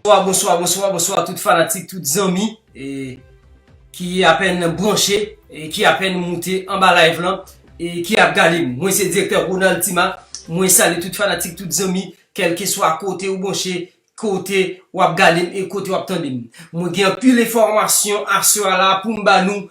Bonswa, bonswa, bonswa, bonswa tout fanatik, tout zanmi ki apen branche, ki apen moute anba live lan e ki ap gade m. Mwen se direktè Ronald Tima, mwen sali tout fanatik, tout zanmi, kelke swa kote ou branche, Kote wap gadem e kote wap tandem. Mwen gen anpil enfòmasyon aswè a la poum ba nou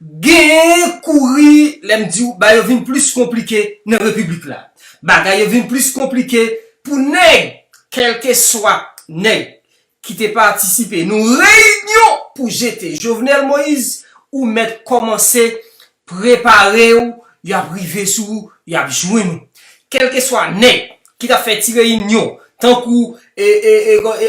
Gen kouri lèm diw bagay yo vin plis konplike nan repiblik la Bagay yo vin plis konplike pou nèg Kèlkeswa nèg ki te patisipe nan reyinyon pou jete Jovenel Moïse ou mèt kòmanse Preparew yap rive sou ou yap jwenn ou kelkeswa nèg ki tap fè ti reyinyon tankou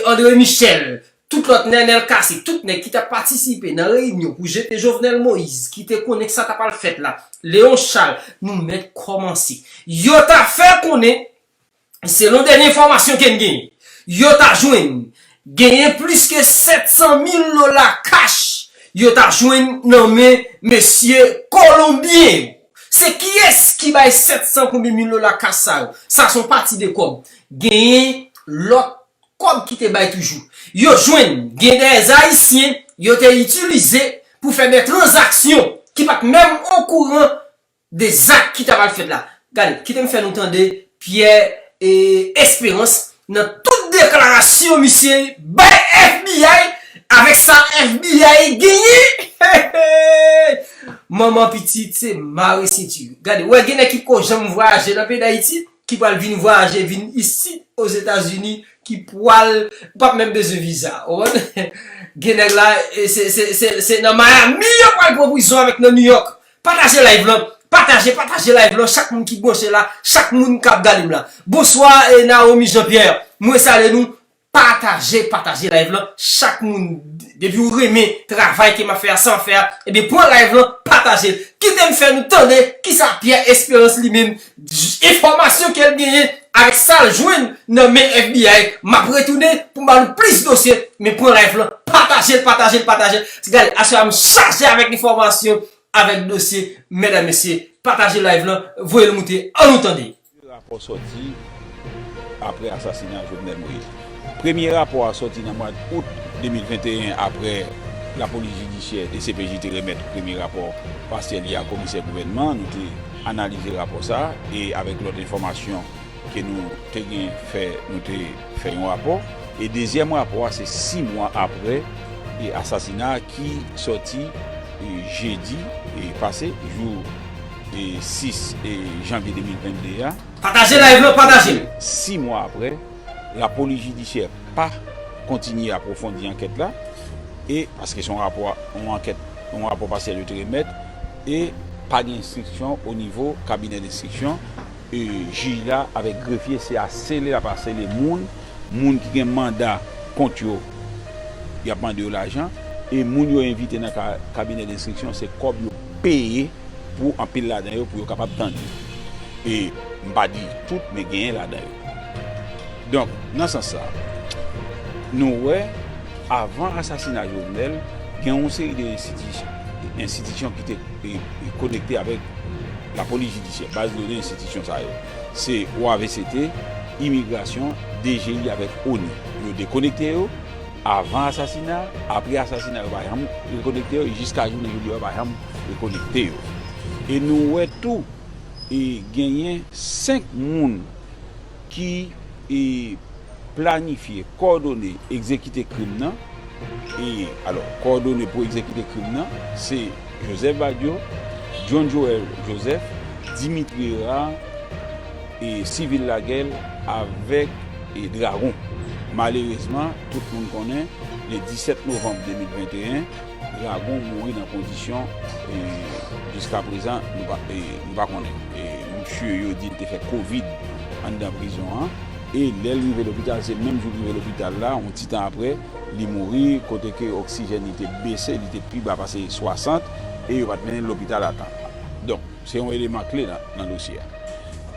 Andre Michel tout lòt Nenel Cassy tout nèg ki tap patisipe nan reyinyon pou jete Jovenel Moïse ki te konnen sa tap al fèt la Léon Charles nou mèt kòmanse yo ta fè konnen Selon dènye enfòmasyon ke n gen, yo ta jwenn genyen plis ke 700 mil dola kach yo ta jwenn nan men mesye kolonbyen yo. Se kiyès ki bay 700 konbyen mil dola kach sa yo? Sa son pati de kòb. Genyen lòt kòb ki te bay toujou. Yo jwenn gen dèyè zayisyen yo te itilize pou fè dè tranzaksyon ki pat menm okouran de zak ki ta pral fèt la. Gade, kite m fè nou tande Pierre Esperance nan tout deklarasyon misye bay FBI avèk sa FBI genyen! Hehey! Manman pitit se mare senti yo. Gade, wè gen nèg ki pko janm vwayaje nan peyi Dayiti, ki pral vin vwayaje vin isit Ozetazini, ki pwal, ou pap menm bezwen viza. Ou konprann? Gen nèg la, se nan Miami yo pral pran prizon avèk nan New York. Pataje live lan Pataje pataje live lan chak moun ki bwoche la chak moun kap gadem la Bonswa Naomi Jean Pierre mwen salye nou Pataje pataje live lan chak moun depiw renmen travay ke map fè a sa map fè a ebyen pran live lan patajel kitem fè nou tande kisa Pierre Esperance li menm enfòmasyon kel genyen avèk sal jwenn nan men FBI map retounen pou ba nou plis dosye men pran live lan patajel patajel patajel gade aswè a m chaje avèk enfòmasyon avèk dosye mèdam mesye pataje live lan voyel moute an nou tande. 2 rapò sòti aprè asasina Jovenel Moïse. Premye rapò a sòti nan mwad Out 2021 aprè lapolis jidisyè, dcpj, te remèt premye rapò pasyèl li a komisè gouvènman an. Nou te. analize rapò sa a e avèk lòt enfòmasyon ke nou te gen fè nou te fè yon rapò e dezyèm rapò a se 6 mwa aprè e asasina a ki sòti jedi pase jou 6 janvye 2022 a Pataje live lan pataje l. 6 mwa aprè lapolis jidisyè pa kontinye apwofondi ankèt la e paske se yon rapò yon ankèt yon rapò pasyèl yo te remèt. e pa gen enstriksyon o nivo kabinè denstriksyon e jij la avèk grefye se asele lap asele moun moun ki gen manda kont yo yap mande yo lajan e moun yo envite nan kabinè denstriksyon se kòb yo peye pou anpil ladan yo pou yo kapab tande e mpa di tout men genyen ladan yo. Donk, nan sans sa, nou wè avan asasina Jovenel, gen yon seri de enstitisyon ki te konekte avèk lapolis jidisyè, baz done enstitisyon sa yo. Se OAVCT, Imigrasyon, DGI avèk onu. Yo dekonekte yo, avan asasina, apre asasina yo pa janm rekonekte yo, e jiska jounen jodi a yo pa janm rekonekte yo. E nou wè tou. E genyen 5 moun ki e planifye, kòdone, egzekite krim nan. E alò, kòdone pou egzekite krim nan, se Joseph Badio, John Joel Joseph, Dimitri Herard, e Civil Laguel avèk e Dragon. Malerezman, tout moun konnen, le 17 novanm 2021, Dragon mouri nan kondisyon jiska prezan nou pa konnen. Misye yo di li te fè covid anndan prizon an e lè l rive lopital se menm jou l rive lopital la yon ti tan aprè li mouri kote ke oksijèn li te bese li te pi ba pase 60 e yo pa t mennen l lopital a tan. Donk se yon eleman kle nan dosye a.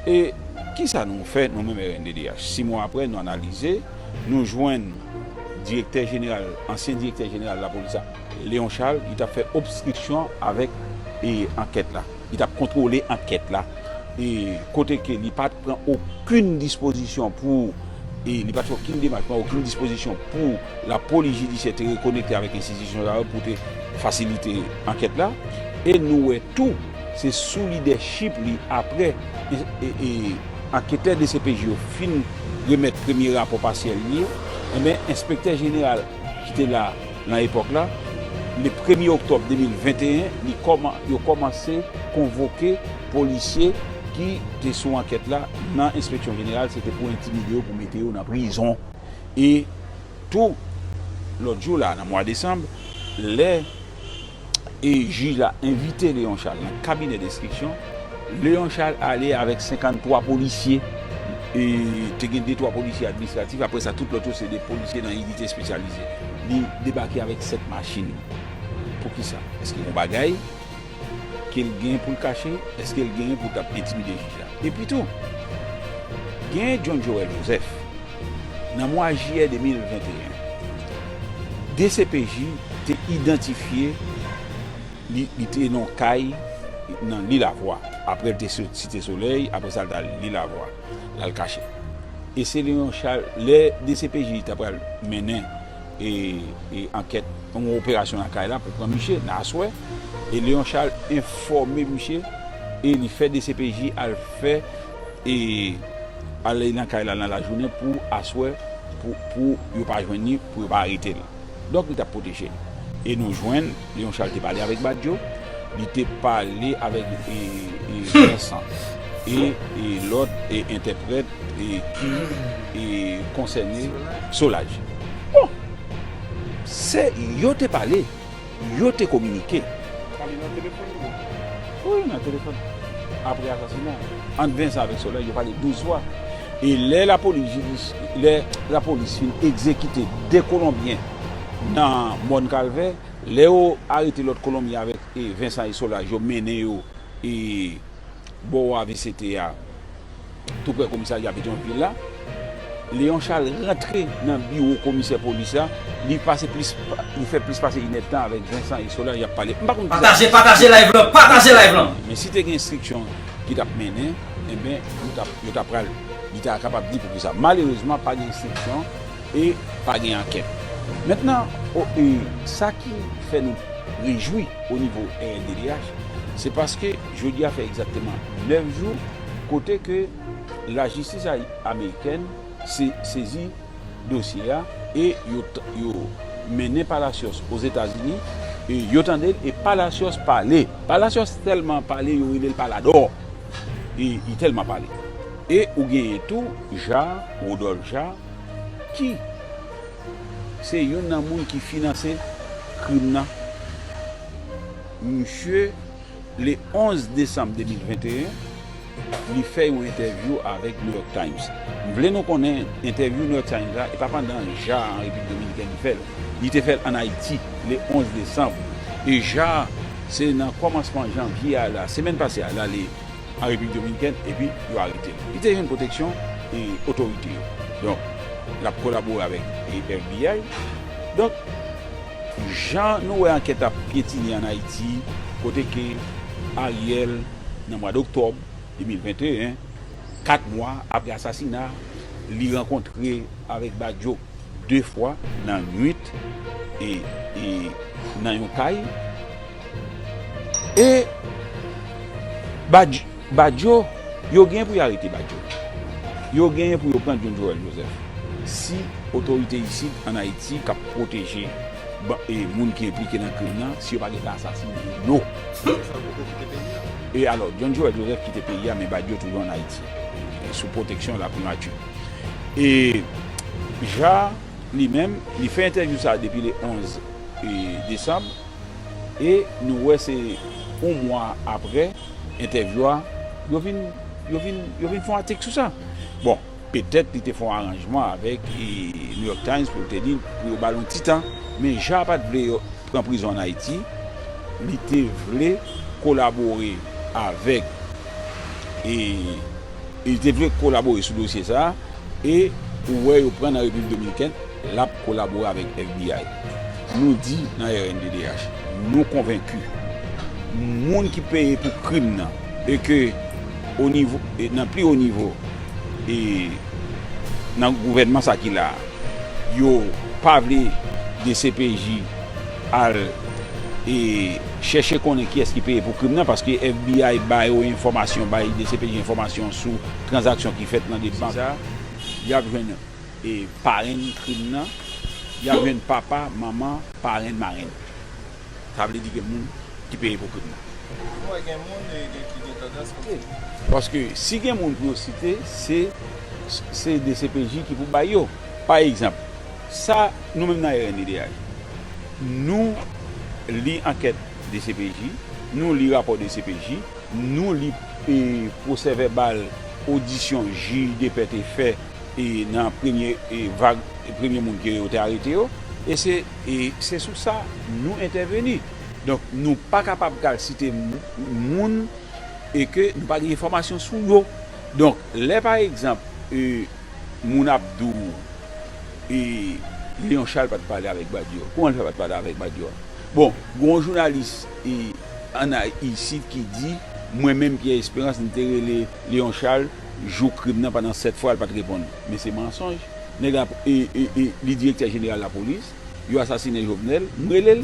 E kisa nou fè nou menm rnddh? 6 mwa aprè nou analize nou jwenn. direktè jeneral, ansyen direktè jeneral lapolis a, Léon Charles, li t ap fè obstriksyon avèk ankèt la, li t ap kontwole ankèt la, kote ke li pa t pran okenn dispozisyon pou, li pa t fè okenn demach, pran okenn dispozisyon pou lapolis jidisyè te rekonekte avèk enstitisyon sa yo pou te fasilite ankèt la. E nou wè tou, se sou lidèchip li apre. Anketè dcpj yo fin remèt premye rapò pasyèl li, enben enspektè jeneral ki te la nan epòk la, le premye oktòb 2021, yo kòmanse konvoke polisye ki te sou ankèt la nan enspeksyon jeneral, se te pou entimide yo pou mete yo nan prizon. E tou, lòt jou la, nan mwa desanm, lè. e jij la envite Leon Charles nan kabinè denstriksyon, Leon Charles ale avèk 53 polisye, e te gen de twa polisye administratif, aprè sa tout lòt yo se de polisye nan inite espesyalize. Li debake avèk 7 machin. Poukisa? Èske gon bagay ke l gen pou l kache? Èske l genyen pou l t ap entimide jij la? Epitou, gen John Joël Joseph, Nan mwa jiyè 2021, dcpj te idantifye li, li te nan yon kay nan Lilavwa, aprè li te sot Site Solèy, aprè sa li t al Lilavwa, l al kache. E se nan yon cha, lè dcpj ta pral mennen ankèt, yon operasyon nan kay la pou pran miche nan aswè, e Léon Charles enfòme miche e li fè dcpj al fè. E al nan kay la nan lajounen pou aswè pou yo pa jwenn li, pou yo pa arete l. Donk li t ap pwoteje l. E nou jwenn Leon Charles te pale avèk Badio, li te pale avèk Vincent e lòt entèprèt ki konsène Solaj. Bon! Se yo te pale. yo te kominike. Pale nan telefòn tou? Wi, nan telefòn. Apre asasina a, ant Vincent avèk Solange yo pale 12 fwa. E lè lapolis fin egzekite 2 kolonbyen nan Mòn Kalvè, lè yo arete lòt kolonbyen avèk Vincent e Solange yo mennen yo. Bò wè avi CT a, tou prè komisarya Petyonvil la, Léon Charles rantre nan biwo komisè polis la, li pase plis, li fè plis pase inèdtan avèk Vincent e Solange ap pale. M pa konn kisa ki te pase yo menm. Men si te gen enstriksyon ki t ap mennen, enben yo t ap, yo ta pral, li ta kapab di poukisa. Malerezman pa gen enstriksyon e pa gen ankèt. Mentnan, o, e sa ki fè nou rejwi o nivo rnddh, se paske. Jodi a fè egzakteman 9 jou kote ke lajistis amerikèn sezi dosye a e yo mennen Palacios Ozetazini e yo tande l e Palacios pale. Palacios tèlman pale yo rele l paladò e li tèlman pale. E ou genyen tou Jaar, Rodolphe Jaar ki se youn nan moun ki finanse krim nan. Msye. Le 11 desanm 2021, li fè yon entèvyou avèk New York Times. M vle nou konnen, entèvyou New York Times la, e pa pandan Ja an Repiblik Dominikèn li fè l. Li te fè l ann Ayiti, le 11 desanm. E Ja, se nan kòmansman janvye a la, semèn pase a, l ale an Repiblik Dominikèn, epi yo arete l. Li te jwenn pwoteksyon otorite yo. Donk, l ap kolabore avèk FBI. Donk. Jan nou wè ankèt ap pyetine an Ayiti kote ke Ariel nan mwad Oktòb 2021, 4 mwa apre asasina li rankontre avèk Badio 2 fwa nan nwit e nan yon kay. E Badio, yo gen pou yo arete Badio. Yo gen pou yo pran John Joel Joseph. Si otorite isit an Ayiti k ap pwoteje moun ki enplike nan krim nan, si yo pa gen tan asasine yo. E alò, John Joel Joseph kite peyi a men Badio toujou an Ayiti. Sou pwoteksyon laprimati. E Ja li menm, li fè entèvyou sa depi le 11 desanm. e nou wè se yon mwa aprè entèvyou a yo vin yo vin yo vin fè yon atik sou sa bon petèt li te fè yon aranjman avèk New York Times pou l te di pou yo ba l yon ti tan men Jean pat vle yo pran prizon an Ayiti li te vle kolabore avèk e li te vle kolabore sou dosye sa e ou wè yo pran nan Repiblik Dominikèn. L ap kolabore avèk FBI. Nou di nan rnddh nou konvenki moun ki peye pou krim nan e ke nan pli wo nivo e nan gouvènman sa ki la a yo pa vle dcpj al e chèche konnen kiyès ki peye pou krim nan paske FBI ba yo enfòmasyon bay dcpj enfòmasyon sou tranzaksyon ki fèt nan de bank. Se sa y ap jwenn. E parenn krim nan, y ap jwenn papa, manman, parenn, marenn. Sa vle di gen moun ki peye pou krim nan. Ou wè gen moun ki gen tandans pou yo site. Paske si gen moun pou yo site, se dcpj ki pou bay yo. Pa egzanp, sa nou menm nan rnddh, nou li ankèt dcpj, nou li rapò dcpj, nou li pwosèvèbal odisyon jij depè te fè. e nan premye vag premye moun ke yo te arete yo e se e se sou sa nou entèveni donk nou pa kapab pral site moun e ke nou pa gen enfòmasyon sou yo donk lè pa egzanp e moun ap di w e Leon Charles pat pale avèk Badio kouman l fè pat pale avèk Badio bon gen yon jounalis e an isit ki di mwen menm Pierre Espérance m te rele Leon Charles. Jou krim nan pandan 7 fwa l pat reponn men se mansonj nèg la li direktè jeneral lapolis yo asasine Jovenel m rele l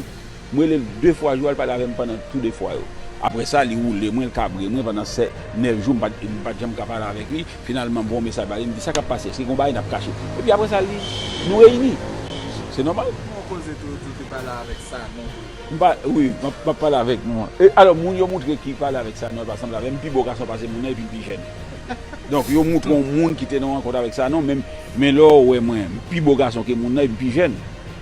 m rele l 2 fwa jou a l pale avè m pandan tou 2 fwa yo aprè sa li woule mwen l kabre mwen pandan 9 jou m pat janm ka pale avèk li finalman m voye yon mesaj ba li m di sa kap pase èske gen yon bagay nap kache epi aprè sa li nou reyini se nòmal. Ki bon koze tou ou di ou te pale avèk Sanon. M pa wi m ap pale avèk nou an. E alò moun yo moutre ki pale avèk Sanon e pa sanble avè m, m pi bo gason pase moun nan epi m pi jèn. Donk yo moutre yon moun ki te nan rankont avèk Sanon men men lè yo wè mwen, m pi bo gason ke moun nan epi m pi jèn.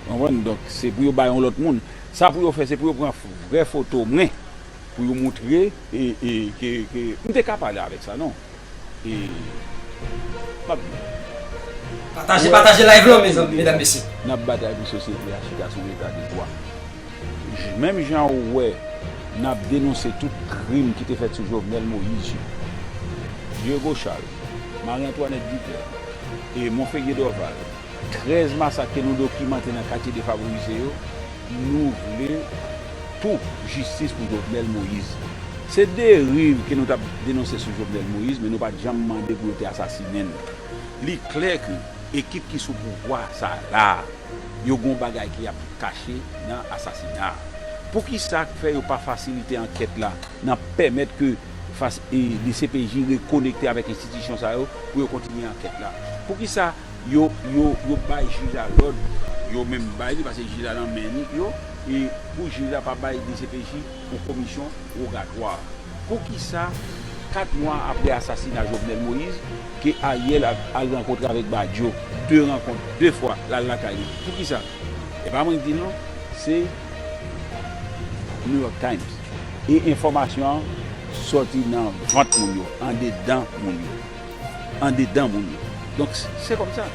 Ou konprann? Donk se pou yo bay yon lòt moun. Sa pou yo fè se pou yo pran vrè foto mwen Pou yo montre ke m te ka pale avek sa non. E map di. Pataje pataje live lan mezanmi medam mesye. Nap batay pou sosyete a chita sou leta de dwa. Menm jan ou wè nap denonse tout krim ki te fèt sou Jovenel Moïse yo. Diego Charles, Marie Antoinette Duterte, Monfegue Dorval. 13 masak ke nou dokimante nan katye defavorize yo, nou vle tou jistis pou Jovenel Moïse. Se deriv ke nou tap denonse sou Jovenel Moïse men nou pat janm mande pou yo te asasinen l. Li klè ke ekip ki sou pouvwa sa la a, yo gon bagay ke yap kache nan asasina a. Poukisa k fè yo pa fasilite ankèt la nan pèmèt ke dcpj rekonekte avèk enstitisyon sa yo pou yo kontinye ankèt la? Poukisa Yo yo yo bay jij la lòd yo menm bay li pase jij la nan men li yo e pou jij la pa bay dcpj pou komisyon rogatwa poukisa 4 mwa aprè asasina jovenel moïse ke ariel al rankontre avèk badio 2 rankont 2 fwa lal lakay li poukisa epa mwen ki dil non se new york times e enfòmasyon an sòti nan vant moun yo andedan moun yo. andedan moun yo. Donk se kòm sa.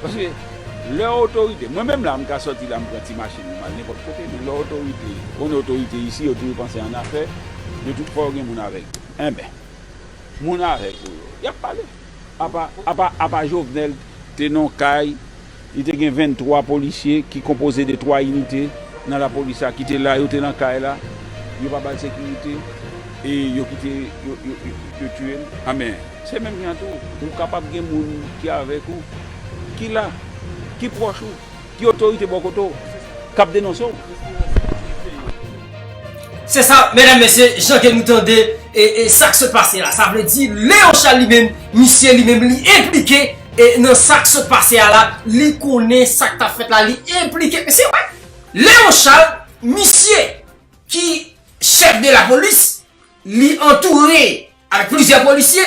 Paske lè yon otorite, mwen menm la m ka sòti la m pran ti machin mwen m al nenpòt kote men lè otorite, ou konnen otorite isi yo toujou panse annafè, yo tou fò yo gen moun avèk yo. Enben, moun avèk ou yo, y ap pale. Apa, apa, apa Jovenel te nan yon kay. Li te gen 23 polisye ki konpoze de 3 inite nan lapolis la ki te la, yo te nan kay la, yo pa ba l sekirite e yo kite yo tiye l. Anben, se menm jan tou, ou kapab gen moun ki avèk ou, ki la, ki pwòch ou, ki otorite bò kote w, k ap denonse w. Se sa, medam mesye, jan ke nou tande e sak sot pase la. Sa vle di, Leon Charles li menm, misye li menm li enplike e nan sak sot pase a la, li konnen sak tap fèt la, li enplike. E se vre, Leon Charles, misye ki chèf de la polis, li antoure. ak plizyè polisye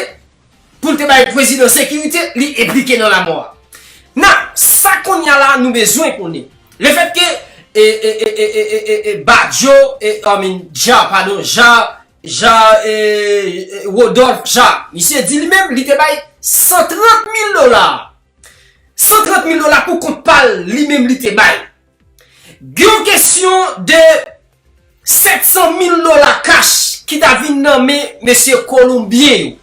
pou l te bay prezidan sekirite li enplike nan lamò a. Nan, sa konnya la nou bezwen konnen, lefètke e e e e e e e Badjo e I mean Jaar padon Jaar Jaar e e Rodolphe Jaar misye di li menm li te bay 130 mil dola 130 mil dola pou kont pa l li menm li te bay. Gen yon kesyon de 700 mil dola kach ki ta vin nan men mesye Kolonbyen yo.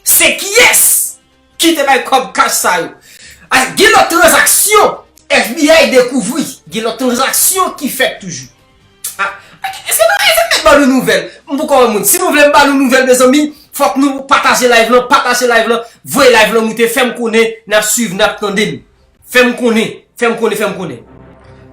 Se kiyès ki te bay kòb kach sa yo? Gen lòt tranzaksyon FBI dekouvri. Gen lòt tranzaksyon ki fèt toujou. Eske nou vle m met ba nou nouvèl? M poko wè moun. Si nou vle m ba nou nouvèl mezanmi, fòk nou pataje live lan, pataje live lan, voye live lan moute, fè m konnen n ap swiv, n ap tande m. Fè m konnen, fè m konnen, fè m konnen.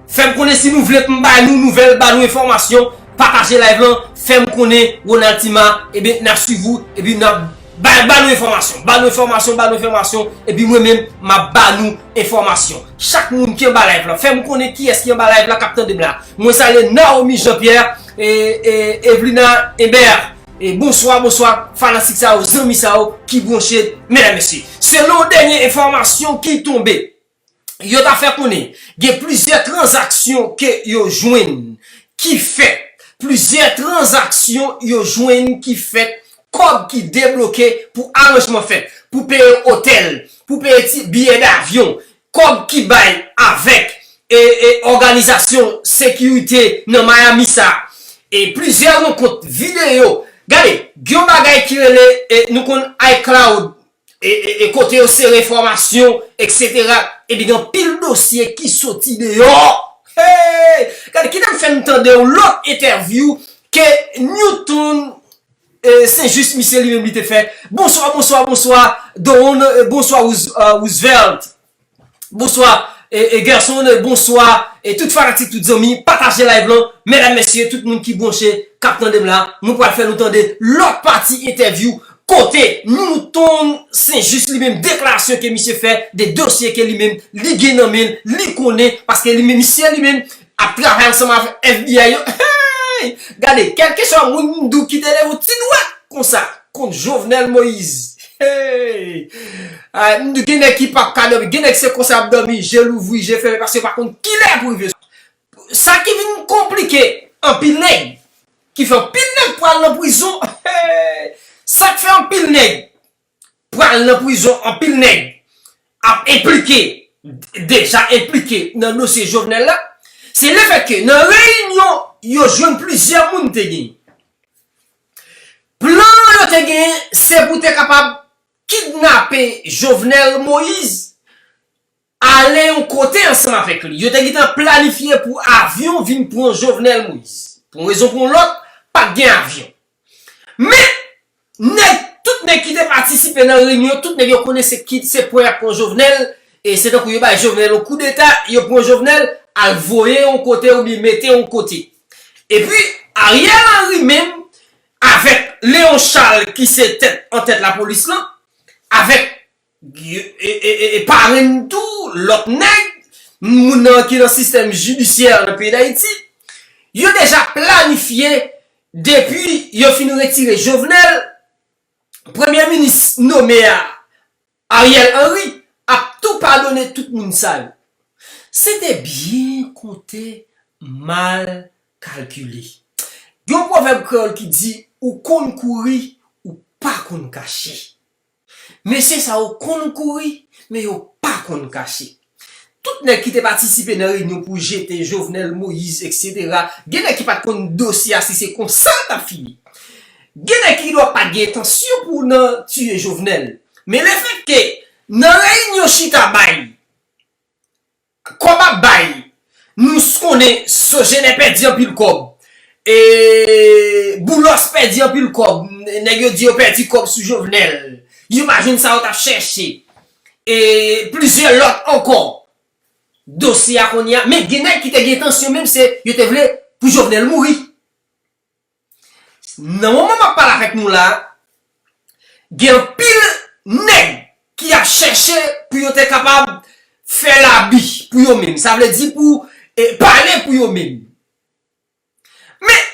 Fè m konnen si nou vle pou m bay nou nouvèl, ba nou enfòmasyon, pataje live lan, fè m konnen Ronald Tima, ebyen n ap swiv ou, epi n ap ba nou enfòmasyon, ba nou enfòmasyon, ba nou enfòmasyon, epi mwen menm m ap ba nou enfòmasyon. Chak moun ki anba live lan, fè m konnen kiyès ki anba live la k ap tande m la. Mwen salye Naomi Jean Pierre, Evelina Eber. Bonswa bonswa fanatik sa yo zanmi sa yo ki bronche medam mesye selon dènye enfòmasyon ki tonbe yo ta fè konnen gen plizyè tranzaksyon ke yo jwenn ki fèt plizyè tranzaksyon yo jwenn ki fèt kòb ki debloke pou aranjman fèt pou peye otèl pou peye ti biyè davyon Kòb ki bay avèk òganizasyon sekirite nan Miami sa a. E plizyè rankont videyo. Gade, gen yon bagay ki rele nou konn iCloud e kote yo sere enfòmasyon eksetera epi gen anpil dosye ki soti deyò. Heyy! Gade, kite m fè n tande yon lòt entèvyou ke Newton Se jis misye li menm li te fè. Bonswa bonswa bonswa Doonn bonswa Roosevelt bonswa Gerson bonswa tout fanatik tout zanmi pataje live lan medam mesye tout moun ki bronche kap tandem la mwen pral fè nou tande lòt pati entèvyou kote Newton se jis li menm deklarasyon ke misye fè de dosye ke li menm li gen nan menl li konnen paske li menm misye li menm Ap travay ansanm avèk FBI yo eeyy gade kèl keswa moun mdo kite leve yon ti dwèt konsa kont jovenel moise eeyy ay mdo gen nèg ki pap ka dòmi gen nèg se konsa yap dòmi je louvri je fèmen paske yo pa konn kilè yap rive sou sa ki vin konplike anpil nèg ki fè anpil nèg pral nan prizon eeyy sak fè anpil nèg. pral nan prizon anpil nèg ap enplike deja enplike nan dosye Jovenel la se le fèt ke nan reyinyon yo jwenn plizyè moun te genyen plan yo te genyen se pou te kapab kidnape Jovenel Moïse Ale yon kote ansanm avèk li. Yo te gentan planifye pou avyon vin pran Jovenel Moïse. Pou yon rezon pou yon lòt, pa t gen avyon. Men, nèg, tout nèg ki te patisipe nan reyinyon yo, tout nèg yo konnen se ki, se pran y ap pran Jovenel, e se tankou yo bay Jovenel yon koudeta, yo pran Jovenel, al voye yon kote oubyen mete yon kote. Epi, Ariel Henry menm, avèk Léon Charles ki se tèt, antèt lapolis lan, avèk. e parenn tou lòt nèg, moun nan ki nan sistèm jidisyè an nan peyi Dayiti, yo deja planifye depi yo fin retire Jovenel, premye minis nome a, Ariel Henry, ap tou padone tout moun sa yo. Se te byen konte, mal kalkile. Gen yon pwovèb kreyòl ki di, ou konn kouri, ou pa konn kache. Mesye sa yo konn kouri, men yo pa konn kache. Tout nèg ki te patisipe nan reyinyon pou jete Jovenel Moïse etc. Gen nèg ki pat konn dosye a si se konsa l tap fini. Gen nèg ki gendwa pat gen entansyon pou nan tiye Jovenel. Men lefètke nan reyinyon chita bay Kob ap bay nous konnen sogener pèdi anpil kob e boulos pèdi anpil kob nèg yo di yo pèdi kob sou jovenel yo pa jwenn sa yo tap chèche e plizyè lot ankò dosye a kounye a men gen nèg ki te gen entansyon menm se yo te vle pou jovenel mouri. Nan moman map pale avèk nou la, gen anpil nèg ki ap chèche pou yo te kapab fè labi pou yo menm. Sa vle di pou pale pou yo menm. Men,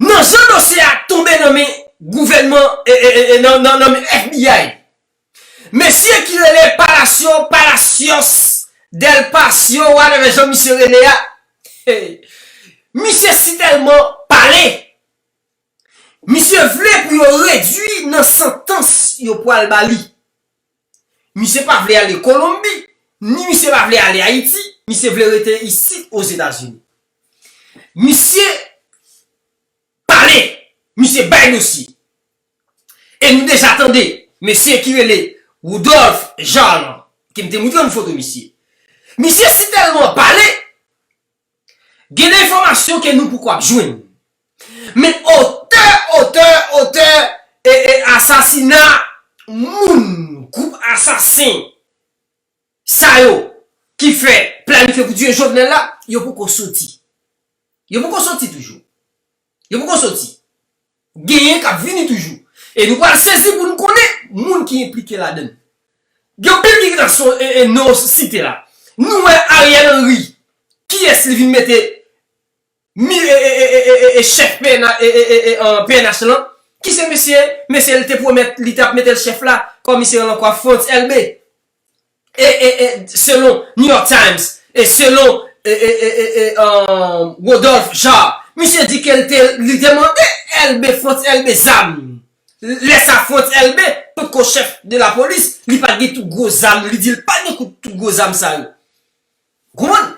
nan jan dosye a tonbe nan men gouvènman, nan men FBI, Mesye ki rele Palacio, Palacios, Del Pacio whatever jan misye rele a, misye si tèlman pale, misye vle pou yo redwi nan santans yo pwal ba li. Misye pa vle ale Kolonbi, ni misye pa vle ale Ayiti, misye vle rete isit Ozetazini. Misye pale, misye bay dosye. E nou deja tande mesye ki rele Woudòlf Jan lan, ke m te moutre nou foto misye. Misye si tèlman pale, gen de enfòmasyon ke nou poko ap jwenn. Men otè, otè, otè e e asasina moun gwoup asasen sa yo ki fè planifye pou tiye Jovenel la, yo poko soti. Yo poko soti toujou. Yo poko soti. Genyen kap vini toujou. E nou pral sezi pou nou konnen moun ki enplike ladann. Gen anpil ki gentan son e non yo site la. Nou wè Ariel Henry kiyès li vin mete mi e chèf pnh lan. Ki se mesye, mesye li te pwomèt li tap metel chèf la, komisè lan kwa Frantz Elbe. E e e selon New York Times e selon e e e e e Rodolphe Jaar, misye di ke li te mande Elbé Frantz Elbé zam. Lè sa Frantz Elbé pot ko chèf de la polis, li pat gen tout gwo zam, li di l pat gen kout tout gwo zam sa yo. Ou konprann?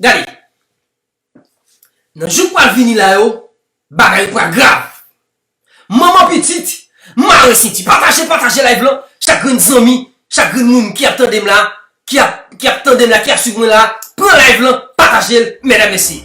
Gade. Nan jou k pral vini la yo, bagay yo pral grav. Manman pitit, mare senti. Pataje, pataje live lan. Chak grenn zanmi, chak grenn moun ki ap tande m la, ki ap, ki ap tande m la, ki ap swiv mwen la, pran live lan, pataje l, medam mesye.